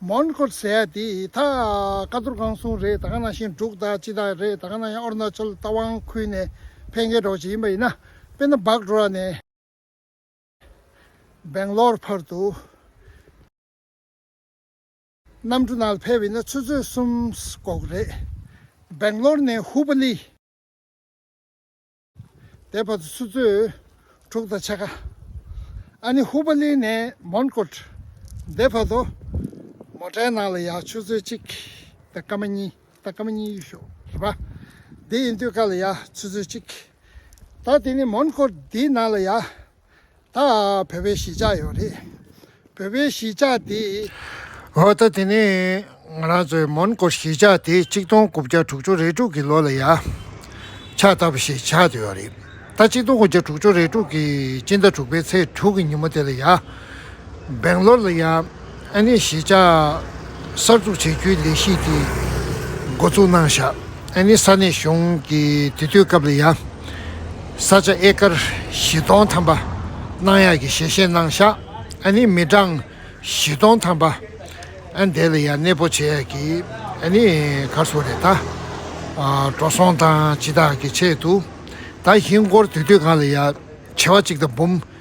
མོན་གྷོ་ཟེར་ཡ་དེ་ད་ཀ་ཏུར་ཁང་སྲུང་རེད་ད་ཀ་ན་ཞིང་འབྲུག་དང་ཅི་དང་རེད་ད་ཀ་ན་ཡང་ཨོར་ན་ཆོལ་རྟ་དབང་ཁུལ་ནས་ཕེན་གེ་འགྲོ་བྱེད་ཡིན་པ་ཡིན་ན་དཔེར་ན་སྦག་རོ་ར་ནས་སྦེང་ལོར་བར་དུ་གནམ་གྲུ་ནང་ལ་ཕེབས་ཡིན་ན་ཆུ་ཚོད་གསུམ་འགོག་རེད་སྦེང་ལོར་ནས་ཧུ་པ་ལི། དེའི་བར་དུ་སུ་གཙོས། དྲུག་དང་ཕྱེད་ཀ། ཨ་ནི་ཧུ་བ་ལི་ནས་མོན་ཀོད། དེའི་བར་དུ། མོ་ཏྲའི་ནང་ལ་ཡག་ཆུ་ཚོད་གཅིག། ད་སྐར་མ་གཉིས། ད་སྐར་མ་གཉིས་ཡོད་ཤོག་རེད་པ། དེ་ཡིན་དུས་ཀ་ལ་ཡག་ཆུ་ཚོད་གཅིག། ད་དེ་ནི་མོན་ཀོད་དེའི་ནང་ལ་ཡག་ད་བོད་པའི་གཞིས་ཆགས་ཡོད་རེད། བོད་པའི་གཞིས་ཆགས་དེ། འོ་ད་དེ་ནི་ང་རང་ཚོའི་མོན་གྷོ་གཞིས་ཆགས་དེ་གཅིག་སྟོང་དགུ་བརྒྱ་དྲུག་ཅུ་རེ་དྲུག་གི་ལོ་ལ་ཡ། ཆགས་ལྟ་བུ་ཞིག་ཆགས་ཡོད་རེད། ད་གཅིག་སྟོང་དགུ་བརྒྱ་དྲུག་ཅུ་རེ་དྲུག་གི་སྤྱི་ཟླ་དྲུག་པའི་ཚེས་དྲུག་གི་ཉིན་མོ་དེ་ལ་ཡ། སྦེང་ལོར་ལ་ཡང་ཨན་ནི་གཞིས་ཆགས་གསར་འཛུགས་བྱེད་རྒྱུའི་ལས་གཞི་དེ་འགོ་བཙུགས་གནང་བཞག་ཨན་ནི་ས་གནས་གཞུང་གི་དེ་དུས་སྐབས་ལ་ཡང་ས་ཆ་ཨེ་ཀར་བཞི་སྟོང་ཐམ་པ་གནང་ཡག་གི་ཞལ་བཞེས་གནང་བཞག་ཨན་ནི་མི་གྲངས་བཞི་སྟོང་ཐམ་པ་ཨན་དེ་ལ་ཡང་གནས་སྤོ་བྱེད་ཡག་གི་ཨན་ནི་གར་སོང་རེད་ད་འགྲོ་སོང་དང་ཇི་དག་གི་ཆེད་དུ་ད་ཧིན་སྒོར་དེ་དུས་གང་ལ་ཡང་བྱེ་བ་གཅིག་དང་འབུམ་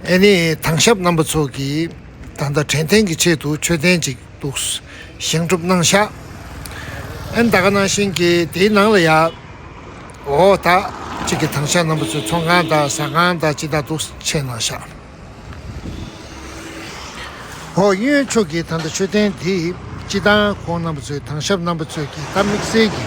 ཨེ་ནི་དྭངས་ཞབས་རྣམ་པ་ཚོགས་ཀྱིས་ད་ལྟ་དྲན་རྟེན་གྱི་ཆེད་དུ་མཆོད་རྟེན་ཅིག་འདུག་བཞེངས་གྲུབ་གནང་ཤག་ཨན་ད་ག་ནང་བཞིན་གྱི་དེའི་ནང་ལ་ཡག་འོ་ད་ཅིག་གི་དྭངས་ཞབས་རྣམ་པ་ཚོའི་ཚོགས་ཁང་དང་ཟ་ཁང་དང་ཅི་ད་འདུག་ཆས་གནང་ཤག་ཨོ་གཡོན་ཕྱོགས་ཀྱི་ད་ལྟ་མཆོད་རྟེན་འདི་སྤྱི་དང་ཁོང་རྣམ་པ་ཚོའི་དྭངས་ཞབས་རྣམ་པ་ཚོས་ཀྱི་ད་དམིགས་བསལ་གྱི་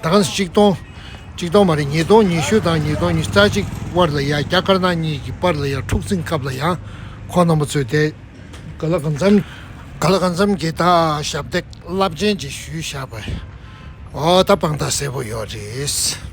དང་གཅིག་སྟོང། གཅིག་སྟོང་མ་རེད་ཉིས་སྟོང་ཉི་ཤུ་དང་ཉིས་སྟོང་ཉི་རྩ་གཅིག་དབར་ལ་ཡང་རྒྱ་དཀར་ནག་གཉིས་ཀྱི་དཔར་ལ་ཡང་འཁྲུག་འཛིང་སྐབས་ལ་ཡང་ཁོང་རྣམ་པ་ཚོས་དེ། ག་ལ་ག་འཚམ་ག་ལ་ག་འཚམ་གྱི་ད་ཞབས་འདེགས་རླབས་ཆེན་གྱི་ཞུས་བཞག་པ་འོ་ད་དཔང་རྟགས་གསལ་པོ་ཡོད་རེད།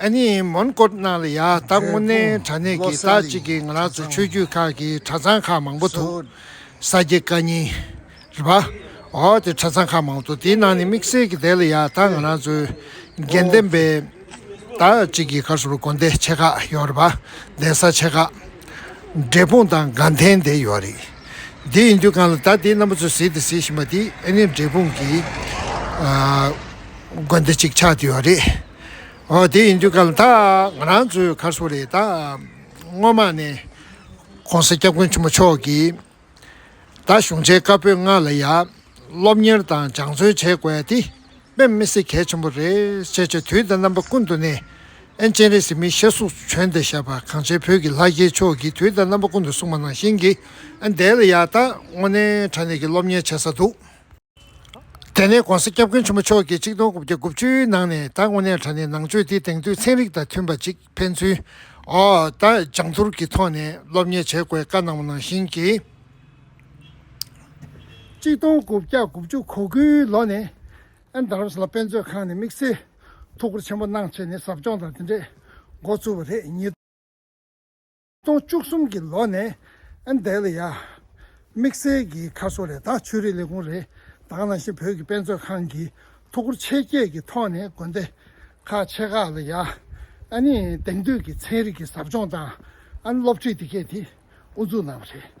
ཨ་ནི་མོན་གྷོ་གནའ་ལ་ཡ་ད་སྔོ་ནའི་དྲ་གནས་ཀྱི་དག་གཅིག་གི་ང་རག་ཚོ་ཆོས་བརྒྱུད་ཁག་གི་གྲ་ཚང་ཁག་མང་པོ་ཐུག་ས་སྐྱེ་ཀ་ཉིན་རི་བ་འོ་དེ་གྲ་ཚང་ཁག་མང་པོ་ཐུག་དེའི་ནང་ནས་དམིགས་བསལ་གྱི་དེ་ལ་ཡ་ད་ང་རང་ཚོའི་དགེ་ལྡན་པའི་དག་གཅིག་གི་གར་སོ་བ་དགོན་དེ་ཆེ་ཁག་ཡོ་རི་བ་གདན་ས་ཆེ་ཁག་འབྲས་སྤུངས་དང་དགའ་ལྡན་དེ་ཡོ་རི་དེ་ཡིན་དུས་གང་ལ་ད་དེའི་རྣམ་པ་ཚོ་ཟིག་དེ་ཟིག་བཞིན་པ་དེ་ཨ་ནི་འབྲས་སྤུངས་གི་དགོན་དེ་གཅིག་ཆགས་དེ་ཡོ་རི། ཨོ་དེ་ཡིན་དུས་སྐབས་ལ་ཐག་ང་རང་ཚོའི་ཁར་སོ་རེད་ད། སྔོན་མ་ནས ྋགོང་ས ྋསྐྱབས་མགོན་ཆེན་པོ་མཆོག་གིས་ད་གཞུང་ཆེན་བཀའ་པོད་ལྔ་ལ་ཡ་སློབ་གཉེར་དང་སྦྱང་བརྩོན་བྱེད་དགོས་དེ་དཔེ་མི་སྲིད་གལ་ཆེན་པོ་རེད་ཅེས་ཆེས་དུས་དང་རྣམ་པ་ཀུན་ཏུ་ནས་ཨན་སྤྱན་རས་གཟིགས་མི་ཤེས་གཟུགས་བྱོན་ཏེ་བཞག་པ་གངས་ཅན་བོད་ཀྱི་ལྷ་རྒྱལ་མཆོག་གིས་དུས་དང་རྣམ་པ་ཀུན་ཏུ་གསུངས་པ་ནང་བཞིན་གྱི་ཨན་དེ་ལ་ཡ་ད་དངོས་གནས་དྲ་གནས་ཀྱི་སློབ་གཉེར་བྱེད་ས་འདུག། དེ་ནས ྋགོང་ས ྋསྐྱབས་མགོན་ཆེན་པོ་མཆོག་གིས་ཆིག་སྟོང་དགུ་བརྒྱ་དགུ་བཅུའི་ནང་ནས་ད་དངོས་གནས་དྲ་གནས་ནང་ཆོས་འདི་དེང་དུས་ཚན་རིག་དང་མཐུན་པ་ཅིག་ཕན་ཚུན་ད་སྦྱང་བསྡུར་གྱི་ཐོག་ནས་སློབ་གཉེར་བྱེད་དགོས་བཀའ་གནང་བ་ནང་བཞིན་གྱི། ཆིག་སྟོང་དགུ་བརྒྱ་དགུ་བཅུ་གོ་དགུའི་ལོ་ནས་ཨན་དར་བྷེས་ལ་དཔེ་མཛོད་ཁང་ནས་དམིགས་བསལ་ཐུགས་ཁུར་ཆེན་པོ་གནང་བྱས་ནས་ཟབ་སྦྱོང་དང་དེ་འདྲས་འགོ་བཙུགས་པ་རེད། སྟོང་བཅུ་གསུམ་གྱི་ལོ་ནས་ཨན་དེ་ལི་ཡ་དམིགས་བསལ་གྱི་ཁ་གསོ་རེ་དང་ཆོས་རིག་ལས་ཁུངས་རེ་དང་ནང་བཞིན་བོད་ཀྱི་དཔེ་མཛོད་ཁང་གིས་ཐུགས་ཁུར་ཆེ་བསྐྱེད་ཀྱི་ཐོག་ནས་དགོན་སྡེ་ཁག་ཆེ་ཁག་ལ་ཡ་ཨན་ནི་དེང་དུས་ཀྱི་ཚན་རིག་གི་ཟབ་སྦྱོང་དང་ཨན་སློབ་ཁྲིད་དེ་གས་དེ་དབུ་འཛུགས་གནང་བ་རེད།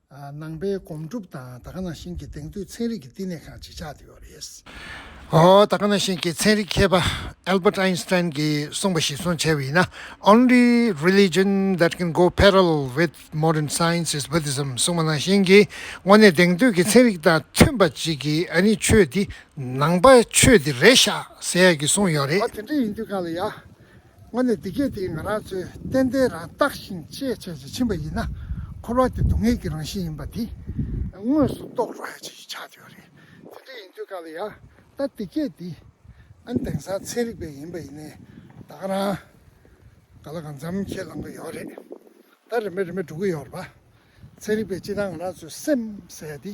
ནང་པའི་སྒོམ་སྒྲུབ་དང་ད་ག་ནང་བཞིན་གྱི་གདེང་ཚོད་ཚན་རིག་གི་བསྟི་གནས་ཁང་ཅིག་ཆགས་ཡོད་པ་རེད། ད་ག་ནང་བཞིན་གྱི་ཚན་རིག་མཁས་པ Albert Einstein གྱིས་གསུངས་པ་ཞིག་བཟུང་བྱས་པ་ཡིན་ན Only religion that can go parallel with modern science is Buddhism གསུངས་པ་ནང་བཞིན་གྱི་དངོས་གནས་གདེང་ཚོད་ཀྱི་ཚན་རིག་དང་མཐུན་པ་ཅིག་གིས་ཨ་ནི་ཆོས་འདི་ནང་པ་ཆོས་འདི་རེད་ཤག་ཟེར་ཡག་གི་གསུངས་ཡོད་རེད། ད་དེ་འདྲ་ཡིན་དུས་ག་ལ་ཡག། སྔོན་ནས་འདི་སྐད་དེ་ང་རང་ཚོས་གཏན་གཏན་རང་བརྟགས་ཤིང་ཤེས་བྱ་ཞིག་ཕྱིན་པ་ཡིན་ན། འཁོར་བ་དེ་སྡུག་བསྔལ་གྱི་རང་བཞིན་ཡིན་པ་དེ་དངོས་སུ་རྟོགས་རོགས་ཡ་ཅིག་བྱ་འདོད་རེད། དེ་འདྲ་ཡིན་དུས་ག་ལ་ཡ། ད་འདི་སྐད་དེ། ཨན་དེང་སང་ཚན་རིག་པས་ཡིན་པ་ཡིན་ནའི་ད་ག་རང། ག་ལ་གང་འཚམ་ཁས་བླང་གི་ཡོད་རེད། ད་རེ་མེད་རེ་མེད་འགྲོ་གི་ཡོད་རེད་པ། ཚན་རིག་པས་ཅི་སྟངས་ང་རང་ཚོའི་སེམས་ཟད་དེ།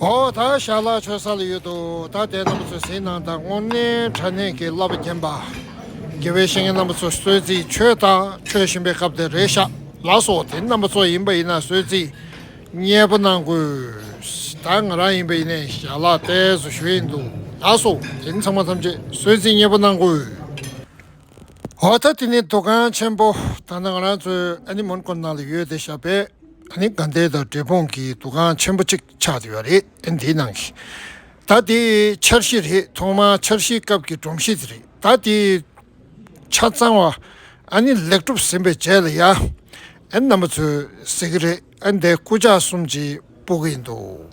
ཨོ་ད་ཞར་ལག་ཆོད་ས་ལ་ཡོད་དོ་ད་དེ་རྣམ་པ་ཚོས་ཟིན་ནང་དང་སྔོ་སྣེ་ཁྲ་སྣེ་གི་བསླབ་པ་བརྒྱན་པ། དགེ་བའི་བཤེས་གཉེན་རྣམ་པ་ཚོ་གསོལ་ཚིགས་ཆོས་དང་ཆོས་བཞིན་པའི་སྐབས་དེར་རེ་བཞག་ལ་སོགས་དེ་རྣམ་པ་ཚོ་ཡིན་པ་ཡིན་ན་གསོལ་ཚིགས་གཉེར་པོ་གནང་དགོས། ད་ང་རང་ཡིན་པ་ཡིན་ནས་ཞར་ལག་གཏད་སོ་ཞུ་ཡིན་འདུག་ལ་སོགས་དེ་ཚང་མ་ཐམས་ཅད་གསོལ་ཚིགས་གཉེར་པོ་གནང་དགོས། འོ་ད་དེ་ནི་འདུ་ཁང་ཆེན་པོ་ད་ང་རང་ཚོའི་ཨ་ནེ་མོན་གྷོ་ནང་ལ་ཡོད་དེ་ཞབས་པད་ཨ་ནེ་དགའ་ལྡན་དང་འབྲས་སྤུངས་ཀྱི་འདུ་ཁང་ཆེན་པོ་གཅིག་ཆགས་ཡོད་རེད་དེ་འདིའི་ནང་གི་ད་དེ་འཆར་གཞི་རེད་ཐོག་མར་འཆར་གཞིའི་སྐབས་ཀྱི་སྒྲོམ་གཞི་དེ་རེད་ད་དེ་ཆ་ཚང་བ་ཨ་ནེ་ལེགས་གྲུབ་ཟིན་པའི་རྗེས་ལ་ཡ་ཨ་ནེ་རྣམ་པ་ཚོས་ཟེར་གྱི་རེད་ཨ་ནེ་དེ་སྐུ་ཕྱག་གསུམ་གྱིས་སྤོ་གི་ཡིན་འདུག།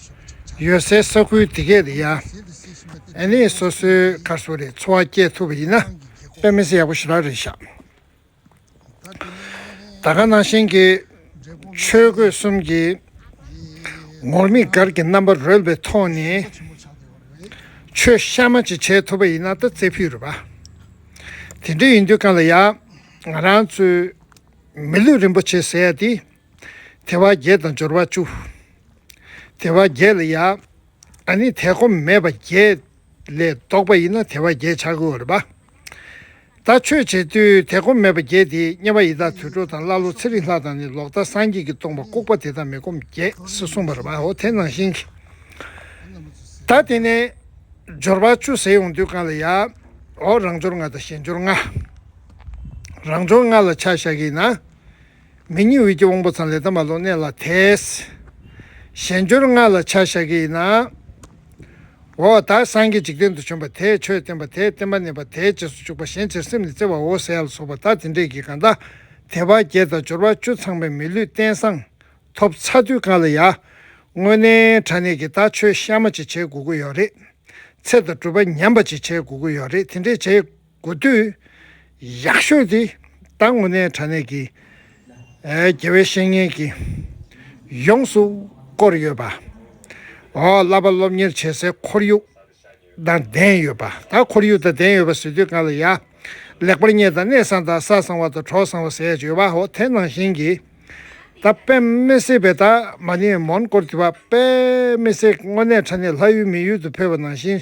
ཡོད་སའི་ས་ཁུལ་དེ་གས་རེད་ཡ། ཨེ་ནས་སོ་སོའི་ཁར་སོ་རེད་འཚོ་བ་སྐྱེལ་ཐུབ་པ་ཡིན་ན་དཔེ་མི་སེ་ཡག་པོ་ཞུ་རག་རེད་ཤག། ད་ག་ནང་བཞིན་གྱི་ཆོས་གོས་གསུམ་གྱི་ངོར་མིག་སྒར་གྱི་རྣམ་པ་རོལ་བའི་ཐོག་ནས་ཆོས་གཤའ་མ་ཅིག་བྱས་ཐུབ་པ་ཡིན་ན་ད་རྩེ་ཕུད་རུ་བ། དེ་འདྲ་ཡིན་དུས་གང་ལ་ཡག་ང་རང་ཚོའི་མི་ལུས་རིན་པོ་ཆེ་ཟེར་ཡ་དེ། དེ་བ་བརྒྱད་དང་སྦྱོར་བ་བཅུ། དེ་བ་བརྒྱད་ལ་ཡང་ནི་དེ་གོམས་མེད་པ་བརྒྱད་ལས་བཟློག་པ་ཡིན་ན་དེ་བ་བརྒྱད་བྱ་དགོས་བར་པདྨ་ཆོས་རྗེས་དུས་དེ་གོམས་མེད་པ་བརྒྱད་དེ་དམྱལ་བ་ཡི་དྭགས་དུད་འགྲོ་དང་ཀླ་ཀློ་ཚེ་རིང་ལྷ་དང་ནི་ལོག་ལྟ་སངས་རྒྱས་ཀྱིས་སྟོང་པ་ལྐུགས་པ་དེ་དག་མི་གོམས་བརྒྱད་ཟེར་གསུངས་པར་བའོ་དེ་ནང་བཞིན་གྱིས་ད་དེ་ནས་སྦྱོར་བ་བཅུ་ཟེར་ཡོང་དུས་གང་ལ་ཡའོ་རང་སྦྱོར་ལྔ་དང་གཞན་སྦྱོར་ལྔ། རང་སྦྱོར་ལྔ་ལ་ཆ་བཞག་གིས་ན་མི་གཉིས་དབུས་ཀྱི་དབང་པོ་ཚང་ལས་ཐ་མ་ལུང་གནས་ལ་དེས། གཞན་སྦྱོར་ལྔ་ལ་ཆ་བཞག་གི་ཡིན་ནའོ། བདག་སངས་རྒྱས་འཇིག་རྟེན་དུ་བྱོན་པ་དེས་ཆོས་བསྟན་པ་དེས་བསྟན་པ་གནས་པ་དེའི་རྗེས་སུ་བཅུག་པ་གཞན་ཕྱིར་སེམས་ནི་བརྩེ་བའོ་ཟེར་ཡ་ལ་སོགས་པ་དག་དེ་འདྲས་ཀྱི་གང་དག་དེ་བ་བརྒྱད་དང་སྦྱོར་བ་བཅུ་ཚང་མས་མི་ལུས་རྟེན་བཟང། ཐོབ་ཚ་དུས་གང་ལ་ཡ། དངོས་གནས་དྲ་གནས་ཀྱི་དག་ཆོས་གཤའ་མ་ཅིག་བྱེད་དགོས་ཀྱི་ཡོད་རེད། ཚེ་དང་སྤྲུལ་པ་ཉམས་པ་ཅིག་བྱེད་དགོས་ཀྱི་ཡོད་རེད་དེ་འདྲས་བྱེད། དགུ་དུས་ཡག་ཤོས་དེ་ད་དངོས་གནས་དྲ་གནས་ཀྱི་དགེ་བའི་བཤེས་གཉེན་གྱིས་ཡོངས་སུ་བསྐོར་ཡོད་པ། བསླབ་པ་སློབ་གཉེར་བྱེད་སའི་ཁོར་ཡུག་དང་ལྡན་ཡོད་པ། ད་ཁོར་ཡུག་དང་ལྡན་ཡོད་པ་ཟེར་དུས་གང་ལ་ཡག་ལེགས་པར་བསྙད་དང་གནས་བཟང་དང་ས་བཟང་བ་དང་གྲོགས་བཟང་བ་ཟེར་ཡག་བྱོས་བ་ཧོ་དེ་ནང་བཞིན་གྱི་ད་པདྨའི་སེ་བས་ད་མ་ནི་མོན་གོར་དེ་པདྨའི་སེ་དངོས་གནས་དྲ་གནས་ལྷ་ཡུལ་མི་ཡུལ་དུ་འཕོས་པ་ནང་བཞིན་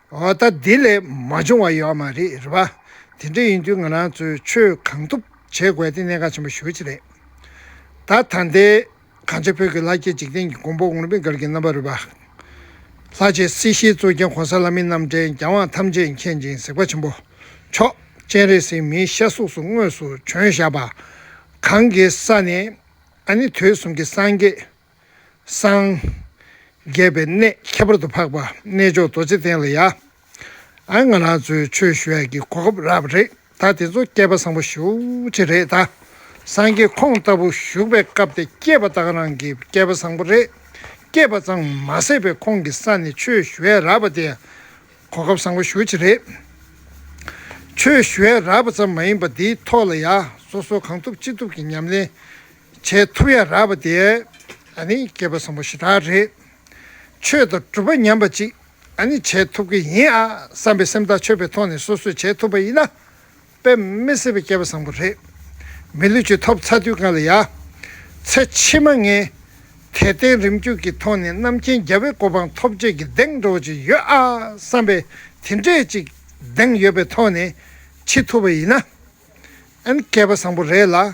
འོ་ད་དེ་ལས་མ་བྱུང་བ་ཡོད་མ་རེད་བ། དེ་འདྲ་ཡིན་དུས་ང་རང་ཚོས་ཆོས་གང་ཐུབ་བྱེད་དགོས་དེ་གནད་འགག་ཆེན་པོ་ཞུ་བྱེད་རེད། ད་ད་ལྟའི་གངས་ཅན་བོད་ཀྱི་ལྷ་སྐྱེས་འཇིག་རྟེན་གྱི་མགོན་པོ་དགོངས་པའི་མགར་གྱི་རྣམ་པ་རུ་བ། ལྷ་རྗེ་སྲིད་ཞིའི་གཙོ་རྒྱན་གོང་ས་བླ་མའི་རྣམ་འདྲེན་རྒྱལ་དབང་ཐམས་ཅད་མཁྱེན་ཅིང་གཟིགས་པ་ཆེན་པོ་མཆོག་སྤྱན་རས་གཟིགས་མིའི་ཤ་གཟུགས་སུ་དངོས་སུ་བྱོན་བཞག་པ། གངས་ཀྱི་ས་ནས་ཨ་ནི་དུས་གསུམ་གྱི་སངས་རྒྱས། སངས་རྒྱས་པའི་གནས་ཁྱད་པར་དུ་འཕགས་པ་རྣལ་འབྱོར་རྡོ་རྗེ་གདན་ལ་ཡ། ཨ་ང་རང་ཚོའི་ཆོས་ཞུ་བ་གི་གོ་སྐབས་རག་པ་རེད་ད་དེ་ཚོ་སྐྱེས་པ་བཟང་པོ་ཤུགས་ཆེ་རེད་ད། སངས་རྒྱས་ཁོང་ལྟ་བུ་བཞུགས་པའི་སྐབས་དེ་སྐྱེས་པ་དག་རང་གི་སྐྱེས་པ་བཟང་པོ་རེད། སྐྱེས་པ་ཙང་མ་ཟད་པའི་ཁོང་གི་ས་ནས་ཆོས་ཞུ་བས་རག་པ་དེ་གོ་སྐབས་བཟང་པོ་ཤུགས་ཆེ་རེད། ཆོས་ཞུ་བས་རག་པ་ཙམ་མ་ཡིན་པ་འདིའི་ཐོག་ལ་ཡ་སོ་སོ་གང་ཐུབ་ཅི་ཐུབ་ཀྱི་ཉམས་ལེན་བྱས་ཐུབ་ཡ་རག་པ་དེ་ཨ་ནི་སྐྱེས་པ་བཟང་པོ་ཞེ་དྲག་རེད། ཆོས་དང་གྲུབ་པ་ཉམས་པ་ཅིག་ཨ་ནི་བྱས་ཐུབ་ཀྱི་ཡིན་ཨ་བསམ་པའི་སེམས་ཐག་ཆོད་པའི་ཐོག་ནས་སོ་སོས་བྱས་ཐུབ་པ་ཡིན་ན་དཔེ་མི་སྲིད་པའི་སྐྱེས་པ་བཟང་པོ་རེད། མི་ལུས་ཀྱི་ཐོབ་ཚ་དུས་གང་ལ་ཡ། ཚེ་ཕྱི་མ་ངས་དད་རྟེན་རིམ་བརྒྱུད་ཀྱི་ཐོག་ནས་རྣམ་མཁྱེན་རྒྱལ་བོའི་གོ་འཕང་ཐོབ་རྗེས་ཀྱི་གདེང་འགྲོ་བ་ཅིག་ཡོད་ཨ་བསམ་པའི་དེ་འདྲས་ཅིག་གདེང་ཡོད་པའི་ཐོག་ནས་འཆི་ཐུབ་པ་ཡིན་ན་ཨ་ནི་སྐྱེས་པ་བཟང་པོ་རེད་ལ།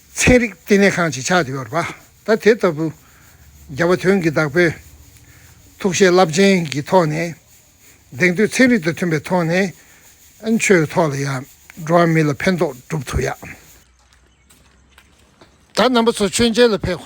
ཚན་རིག་ལྟེ་གནས་ཁང་ཆེ་ཆགས་ཡོད་པ་དང་དེ་ལྟ་བུ་རྒྱ་བོད་དོན་གྱི་བདག་པོས་ཐུགས་བཞེད་རླབས་ཆེན་གྱི་ཐོག་ནས་གདེང་བསྟོད་ཚན་རིག་དང་མཐུན་པའི་ཐོག་ནས་ཨན་ཆོས་ཐོག་ལ་ཡང་འགྲོ་བ་མི་ལ་ཕན་ཐོགས་སྒྲུབ་ཐུབ་ཡག། ད་རྣམ་པ་ཚོ་མཆོད་མཇལ་ལ་ཕེབས།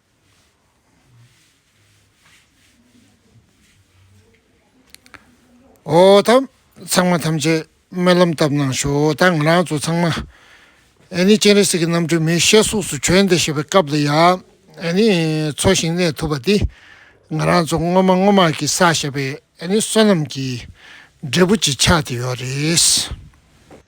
ཚང་མ་ཐམས་ཅད་སྨོན་ལམ་བཏབ་གནང་ཞོག་ད་ང་རང་ཚོ་ཚང་མ་ཨེ་ནི་སྤྱན་རས་གཟིགས་ཀྱི་རྣམ་སྤྲུལ་མི་ཤེས་གཟུགས་སུ་བྱོན་ཏེ་ཞེས་པའི་སྐབས་འདི་ཡང་ཨེ་ནི་འཚོ་ཞིང་གནས་ཐུབ་པ་འདི་ང་རང་ཚོ་སྔོན་མ་སྔོན་མ་གི་བསགས་བཞག་པའི་ཨེ་ནི་བསོད་ནམས་ཀྱི་འབྲས་བུ་ཅིག་ཆགས་ཏེ་ཡོད་རེད།